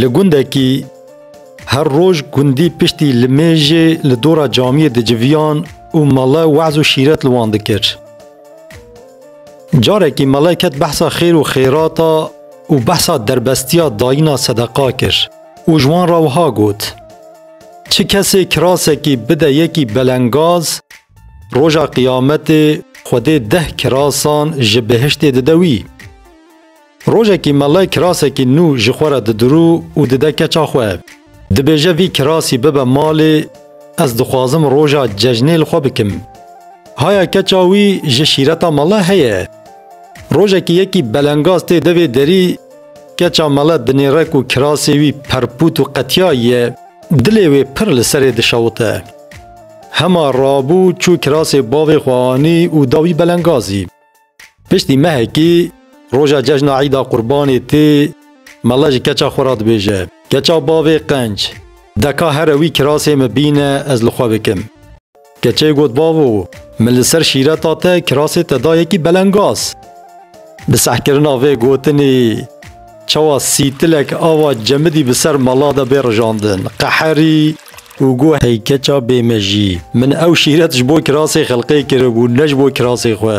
Li gundekî her roj gundî piştî li mêjê li dora camiyê diciviyan û mele waz û şîret li wan dikir. Carekî mele ket behsa xêr û xêrata û behsa derbestiya dayîna sedeqa kir û ji wan re wiha got, Çi kesê kirasekî bide yekî belengaz, roja qiyametê Xwedê deh kirasan ji behiştê dide wî. Rojekî Mellay kirasekî nû ji xwe re didirû û dide keça xwe. Dibêje vî kirasî bibe malê, ez dixwazim roja cejnê li xwe bikim. Haya keça wî ji şîreta mele heye. Rojekî yekî belengaz tê devê derî, keça mele dinêrek û kirasê wî perpût û qetiyayî ye. Dilê wê pir li serê dişewite. Hema rabû çû kirasê bavê xwe anî û da wî belengazî. Piştî mehekî roja cejna Îda Qurbanê tê, mala ji keça xwe re dibêje, Keça bavê qenc, deka here wî kirasê min bîne ez li xwe bikim. Keçeyê got Bavo, min li ser şîreta te kirasê te da yekî belengaz. Bi sehkirina vê gotinê. Çawa sîtilek ava cemidî bi ser mala de bê rijandin, qeherî. Û got, Hey keça bêmejî, min ew şîret ji bo kirasê xelqê kiribû, ne ji bo kirasê xwe.